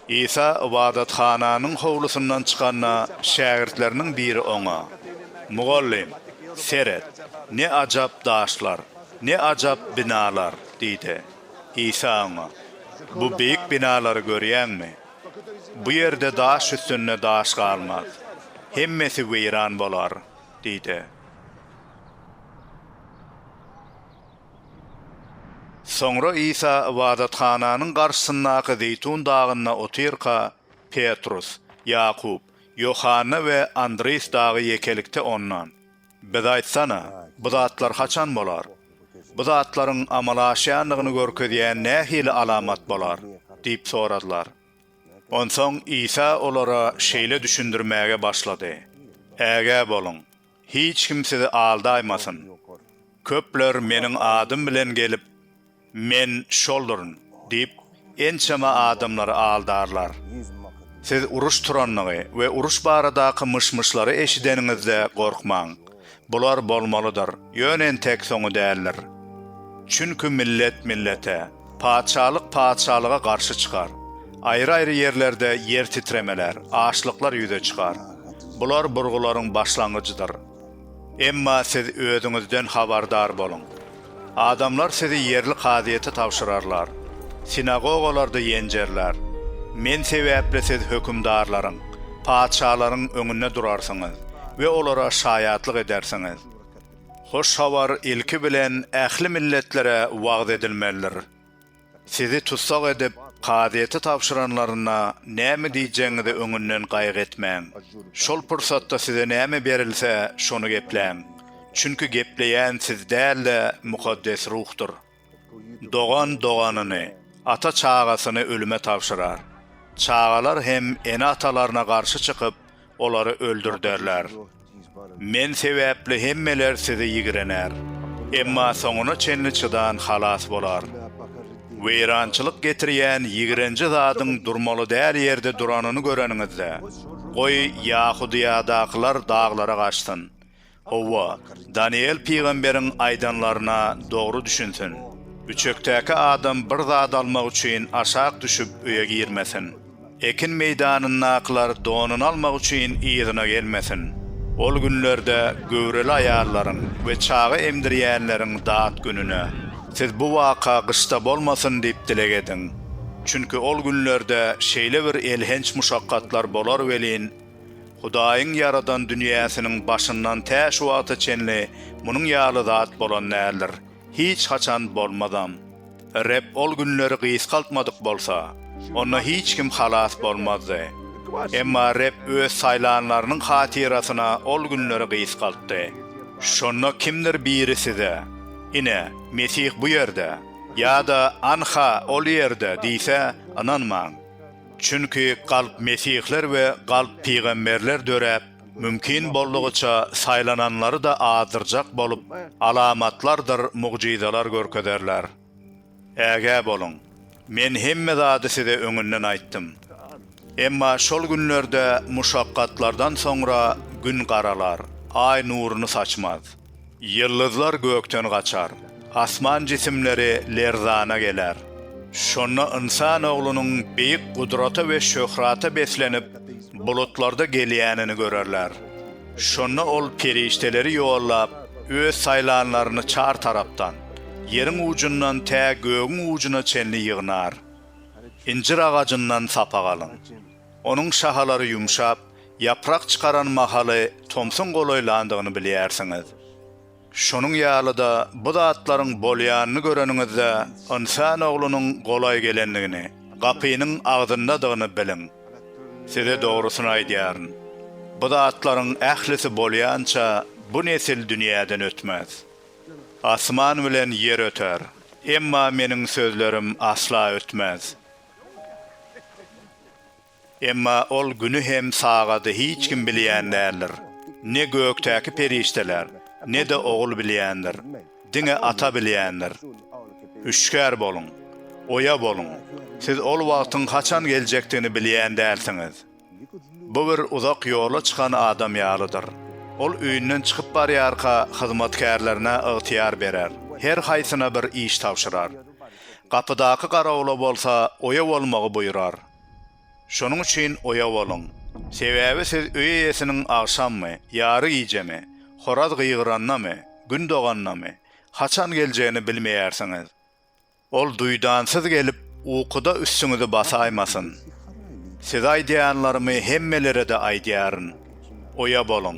Isa ybadathananyň howlusyndan çykanda, şägirtleriniň biri Oňa, Mugallym, seret, ne ajap daşlar, ne ajap binalar! diýdi. Isa oňa, Bu beýik binalary görýäňmi? Bu ýerde daş üstünde daş galmaz. Hemmesi weýran bolar! diýdi. Soňra Isa ybadathananyň garşysyndaky Zeýtun dagynda otyrka, Petrus, Ýakup, Ýohanna we Andris dagy ýekelikde Ondan, Biz aýtsana, bu zatlar haçan bolar? Bu zatlaryň amala aşýandygyny görkezýän nähili alamat bolar? diýip soradylar. Onsoň Isa olara şeýle düşündirmäge başlady, Ägä boluň! Hiç kim sizi aldaýmasyn. Köpler Meniň adym bilen gelip, Men şolduryn! diýip, ençeme adamlary aldarlar. Siz uruş turandygy we uruş baradaky myş-myşlary eşideniňizde gorkmaň. Bular bolmalydyr, ýöne entek soňy däldir. Çünki millet millete. Patyşalyk patyşalyga garşy çykar. Aýry-aýry ýerlerde ýer titremeler, açlyklar ýüze çykar. Bular burgularyň başlangyjydyr. Emma siz özüňizden habardar boluň. Adamlar sizi ýerli kazyýete tabşyrarlar. Sinagogalarda ýenjerler. Men sebäpli siz hökümdarlaryň, patyşalaryň öňünde durarsyňyz we olara şaýatlyk edersiňiz. Hoş habar ilki bilen ähli milletlere wagyz edilmelidir. Sizi tussag edip, kazyýete tabşyranlarynda näme diýjegiňizi öňünden gaýgy etmäň. Şol pursatda size näme berilse, şony gepläň. Çünki gepleýän siz däl-de, Mukaddes Ruhdyr. Dogan doganyny, ata çagasyny ölüme tabşyrar. Çagalar hem ene-atalaryna garşy çykyp, olary öldürderler. Men sebäpli hemmeler sizi ýigrener. Emma soňuna çenli çydan halas bolar. Weýrançylyk getirýän ýigrenji zadyň durmaly däl ýerde duranyny göreniňizde, goý, Ýahudyýadakylar daglara gaçsyn. Hawa, Danyýel pygamberiň aýdanlaryna dogry düşünsin. Üçekdäki adam bir zat almak üçin aşak düşüp öýe girmesin. Ekin meýdanyndakylar donuny almak üçin yzyna gelmesin. Ol günlerde göwreli aýallaryň we çaga emdirýänleriň dat gününe, siz bu waka gyşda bolmasyn diýip dileg ediň. Çünki ol günlerde şeýle bir elhenç muşakgatlar bolar welin, Hudaýyň ýaradan dünýäsiniň başyndan tä şu wagta çenli munuň ýaly zat bolan däldir, hiç haçan bolmazam. Reb ol günleri gysgaltmadyk bolsa, onda hiç kim halas bolmazdy. Emma Reb Öz saýlanlarynyň hatyrasyna ol günleri gysgaltdy. Şonda kimdir biri size, Ine, Mesih bu ýerde! ýa-da Anha, ol ýerde! diýse, ynanmaň. Çünki galp mesihler we galp pygamberler döräp, mümkin boldugyça saýlananlary-da azdyrjak bolup, alamatlardyr mugjyzalar görkezerler. Ägä boluň! Men hemme zady size öňünden aýtdym. Emma şol günlerde muşakgatlardan soňra gün garalar, aý nuruny saçmaz. Ýyldyzlar gökden gaçar. Asman jisimleri lerzana geler. Şonda Ynsan Oglunyň beýik gudrata we şöhrata beslenip, bulutlarda gelýänini görerler. Şonda Ol perişdeleri ýollap, Öz saýlanlaryny çar tarapdan, ýeriň ujundan tä gögüň ujuna çenli ýygnar. Injir agajyndan sapak alyň. Onuň şahalary ýumşap, ýaprak çykaran mahaly tomsuň golaýlandygyny bilýärsiňiz. Şonuň ýaly-da bu zatlaryň bolýanyny göreniňizde Ynsan Oglunyň golaý gelendigini, gapynyň agzyndadygyny biliň. Size dogrusyny aýdýaryn, bu zatlaryň ählisi bolýança bu nesil dünýäden ötmez. Asman bilen ýer öter, emma Meniň sözlerim asla ötmez. Emma ol güni hem sagady hiç kim bilýän däldir. Ne gökdäki perişdeler, ne-de Ogul bilýändir. Diňe Ata bilýändir. Hüşgär boluň! Oýa boluň! Siz ol wagtyň haçan geljekdigini bilýän dälsiňiz. Bu bir uzak ýola çykan adam ýalydyr. Ol öýünden çykyp barýarka, hyzmatkärlerine ygtyýar berer, her haýsyna bir iş tabşyrar. Gapydaky garawula bolsa oýa bolmagy buýrar. Şonuň üçin oýa boluň. Sebäbi siz öý eýesiniň agşammy, ýary gijemi, horaz gygyrandamy, gün dogandamy, haçan geljegini bilmeýärsiňiz. Ol duýdansyz gelip, ukuda üstüňizi basaýmasyn. Size aýdýanlarymy hemmelere-de aýdýaryn. Oýa boluň!